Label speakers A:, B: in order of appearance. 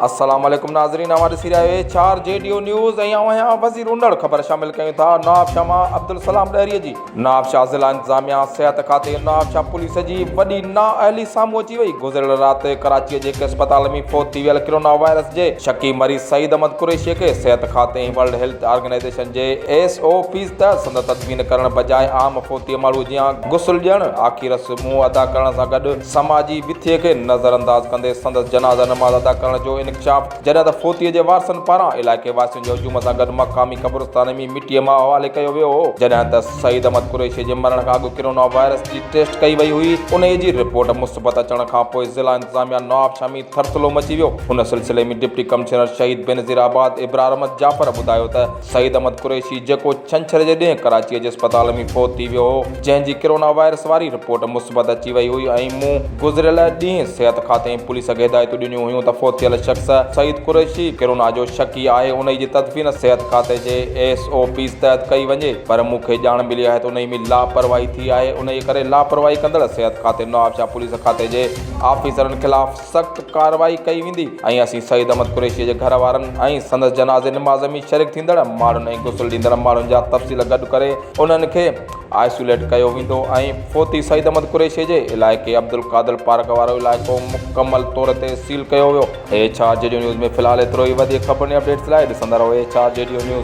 A: السلام عليڪم ناظرين اوهان ڏسي رهيا آهيو چار جي ڊيو نيوز ۽ اوهان هيا وزير اونڙ خبر شامل ڪيون ٿا نواب شاهه مان عبدالسلام ڏهري جي نواب شاهه ضلع انتظاميا صحت کاتي نواب شاهه پوليس جي وڏي نا اهلي سامهون اچي وئي گذريل رات ڪراچي جي هڪ اسپتال ۾ فوت ٿي ويل ڪرونا وائرس جي شڪي مريض سعيد احمد قريشي کي صحت کاتي ۽ ورلڊ هيلٿ آرگنائيزيشن جي ايس او پيز ته سندس تدفين ڪرڻ بجاء عام فوتيء ماڻهوء جيان غسل ڏيڻ، آخي رسمون ادا ڪرڻ سان گڏ سماجي وٿيء کي نظر انداز ڪندي سندس جنازه نماز ادا ڪرڻ جو انڪشاف جڏهن ته فوتيء جي وارثن پاران علائقي واسين جي هجوم سان گڏ مقامي قبرستان ۾ مٽيء مان حوالي ڪيو ويو هو جڏهن ته سعيد احمد قريشيء جي مرڻ کان اڳ ڪرونا وائرس جي ٽيسٽ ڪئي وئي هئي انهيء جي رپورٽ مثبت اچڻ کانپوء ضلع انتظاميه نوابشاهه ۾ ٿرٿلو مچي ويو ان سلسلي ۾ ڊپٽي ڪمشنر شهيد بينظير آباد ابرار احمد جعفر ٻڌايو ته سعيد احمد قريشي جيڪو ڇنڇر جي ڏينهن ڪراچيء جي اسپتال ۾ فوت ٿي ويو هو، جنهن جي ڪرونا وائرس واري رپورٽ مثبت اچي وئي هئي ۽ مون گذريل ڏينهن صحت کاتي ۽ پوليس کي هدايتون ڏنيون هيون ته فوت ٿيل شخص سعيد قريشي ڪرونا جو شڪي آهي انهي جي تدفين صحت کاتي جي ايس او پيز تحت ڪئي وڃي پر مون کي ڄاڻ ملي آهي ته انهي ۾ لاپرواهي ٿي آهي انهي ڪري لاپرواهي ڪندڙ صحت کاتي نوابشاهه پوليس کاتي جي آفيسرن خلاف سخت ڪارروائي ڪئي ويندي ۽ اسين سعيد احمد قريشي جي گهر وارن ۽ سندس جنازي نماز ۾ شريڪ ٿيندڙ ماڻهن ۽ غسل ڏيندڙ ماڻهن جا تفصيل گڏ ڪري انهن کي آئسوليٽ ڪيو ويندو ۽ فوتي سعيد احمد قريشي جي علائقي عبدالقادر پارڪ وارو علائقو مڪمل طور تي سيل ڪيو ويو ايڇ آر جي ڊيو نيوز ۾ في الحال ايترو ئي وڌيڪ خبرن ۽ اپڊيٽس لاء ڏسندا رهو ايڇ آر جي ڊيو نيوز.